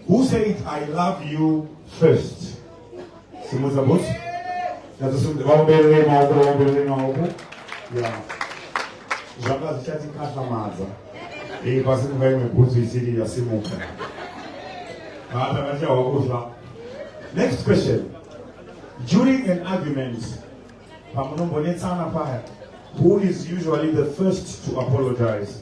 Who said I love you first? Simudza boss. Vaombere maoko, vaombere maoko. Yeah. Zvanga zvichatikatlamadza. Iyi pasi kuva imwe bhutsu isiri yasimuka. Vata vachawa kufa. Next question. During an argument, pamunombonetsana paya, who is usually the first to apologize?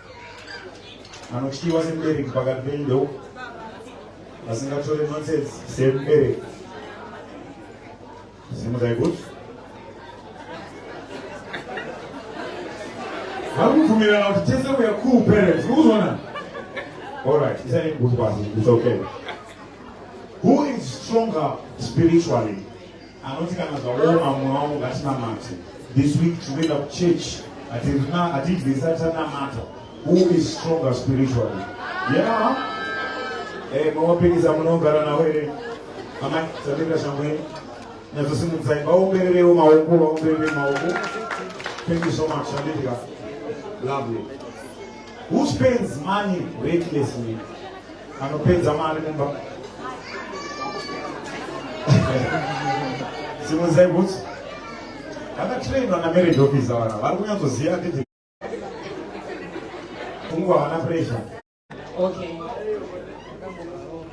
anotyiwa semubereki pakati penyu ndeu asingatore nonsense semubereki simudai kuti vari kubvumirana kuti tese weare cool parents kuzona allright isani kuti kwasi it's okay who is stronger spiritually Anoti kana zvaoma mwoyo wangu ngatinamate. This week tinoenda kuchurch hatirina hatidye tisati tanamata. Who is stronger spiritually? Yeah. Eh, mawapikisa munogara nawo here? Amai, sabika shamwe. Nyazosimudzai vaombererewo maoko, vaomberere maoko. Thank you so much, Shandika. Lovely. Who spends money recklessly? Anopedza mari mumba. Simudzai bhutsu. Vakatrainwa namarriage officer vana vari kunyatsoziva kuti kungu havana pressure. Okay.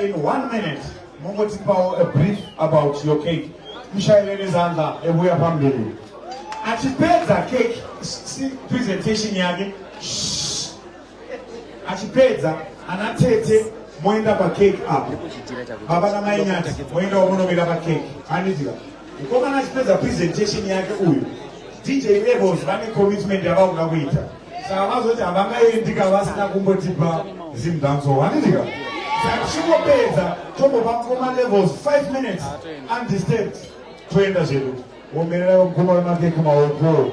In one minute, mongotipawo a brief about your cake. Mushaire nezanza ebuya pamberi. Achipedza cake, si presentation yake. Achipedza ana tete moenda pa cake apo. Baba na mai nyati moenda wamonomira pa cake. Hanizika. Mukomana achipedza presentation yake uyu DJ Levels vane commitment yavakuda kuita saka vazoti havangaendika vasina kumbotipa zimdanso hanindika saka tichingopedza tombopa mukoma Levels 5 minutes undisturbed toenda zvedu womererayo mukoma wemakeke maoko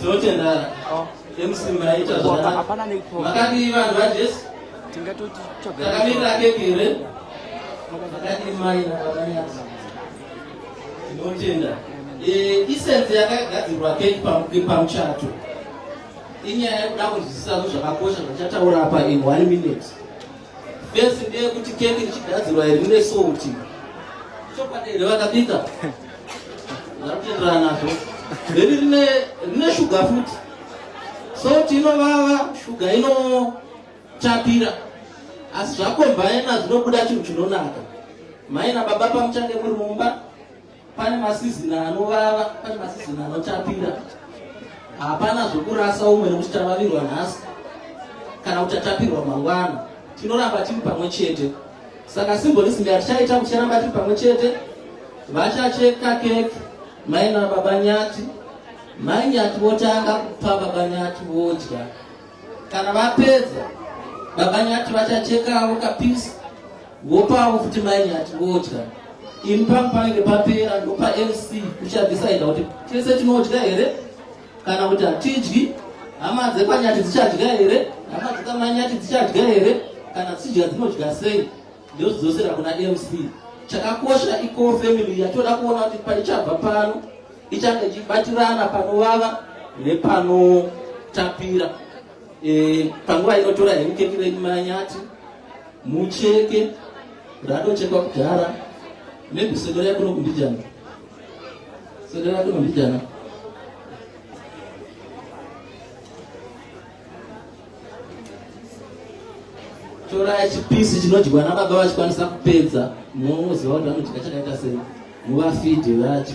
tinotendara mc maita zvamakadii vanhu vajesu takamirira keke here makadii maina vakanyaza tinotenda isense yakagadzirwa keke pamuchato inyaya yekuda kunzwisisa zvakakosha zvachataura apa in one minute Best ndeye kuti keki richigadzirwa iri rine salt. Chokwadi here vakabika? Ndakutenderana nazvo. Iri rine rine sugar futi. Salt inovava, sugar inotapira. Asi zvakombaina zvinobuda chinhu chinonaka. Mai nababa pamuchange muri mumba Pane masizini anovava, pane masizini anotapira. Hapana zvokurasa umwe nekuti tavavirwa nhasi kana kuti tatapirwa mangwana. Tinoramba tiri pamwe chete. Saka simboni simbi hatichaita kuti ticharamba tiri pamwe chete. Vachacheka keke mai nababa nyati. Mai nyati votanga kupa baba nyati vodya. Kana vapedza baba nyati vachachekawo kapisi Wopavo futi mai nyati vodya. Imi pam panenge papera ndopa MC kuchadhisaida kuti tese tinodya here kana kuti hatidyi. Hama dzekwanyati dzichadya here? Hama dzekwamanyati dzichadya here? Kana dzichidya dzinodya sei? Ndozvidzosera kuna MC. Chakakosha iko family yatoda kuona kuti paichabva pano ichange ichibatirana panovava nepanotapira. Eh, panguva inotora hemukeki renyu manyati mucheke radochekwa kudhara maybe sendera yakuno kumbijana sendera yakuno kumbijana tora chipisi chinodyiwa nababa vachikwanisa kupedza moziva kuti vanodya chakaita sei muvafidhe vacho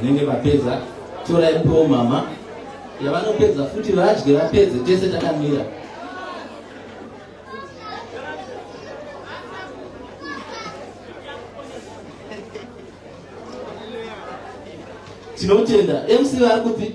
vanenge vapedza torai po mama yavanopedza futi vadye vapedze tese takamira tinotenda mc vari kupi